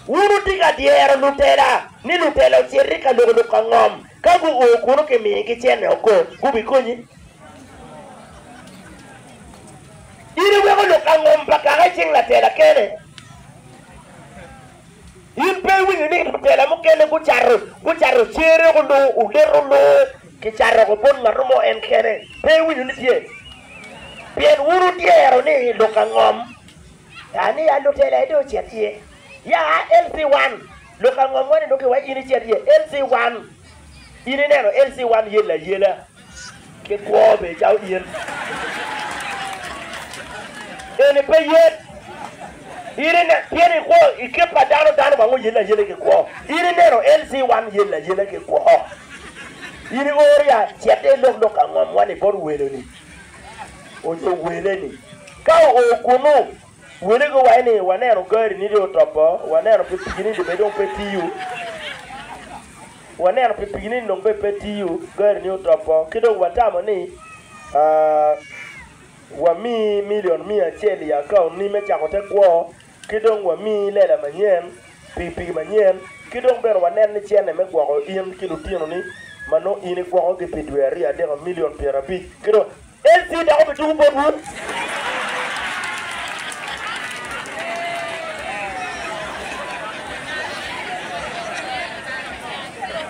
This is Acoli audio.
Wun wutye ka dyero lutela ni lutela ocit i ka loko lok angom. Ka guo kuno kimigi cente oko, gubikonyi? In iweko lok angom pa kaka i cing latela kene? In pe iwinyo ni lutela mukene gucato cere onongo onet onongo kicato woko bot ngat mo en kene? Pe iwinyo ni tye? Pien wun wudyero ni lok angom ka ni ya lutela ede ocit iye? Ya LC 1, lok angom wa ni nongo ki wa in icit iye? LC 1, In ineno LC 1 yel ayela. Ki kwo be cawo in. Eni pe yet. In ine, pien ikwo i kit pa dano, dano bang oyelle ayella ki kwo. In ineno LC wan yelle ayella ki kwo. In ioro ya cete ilok lok angom wani bot weloni onyo weleni. Ka oo kunu, wele gi wai ni waneno gari ni dong otopo, waneno pikipiki ni dong bene dong pe tiyo. Waneno pipigi ni lok bene pe tiyo, gari-ni otopo, ki dong watamo ni wamiyi milion miya acel i akauntni me cako te kwo, ki dong wamiyi lela manyen, pikipiki manyen, ki dong bene waneno ni cente me gwoko in ki lutinoni ma nongo in igwokogi pi dwe aryo adek milion pyerabic, ki dong. En tye dok obituko botwu.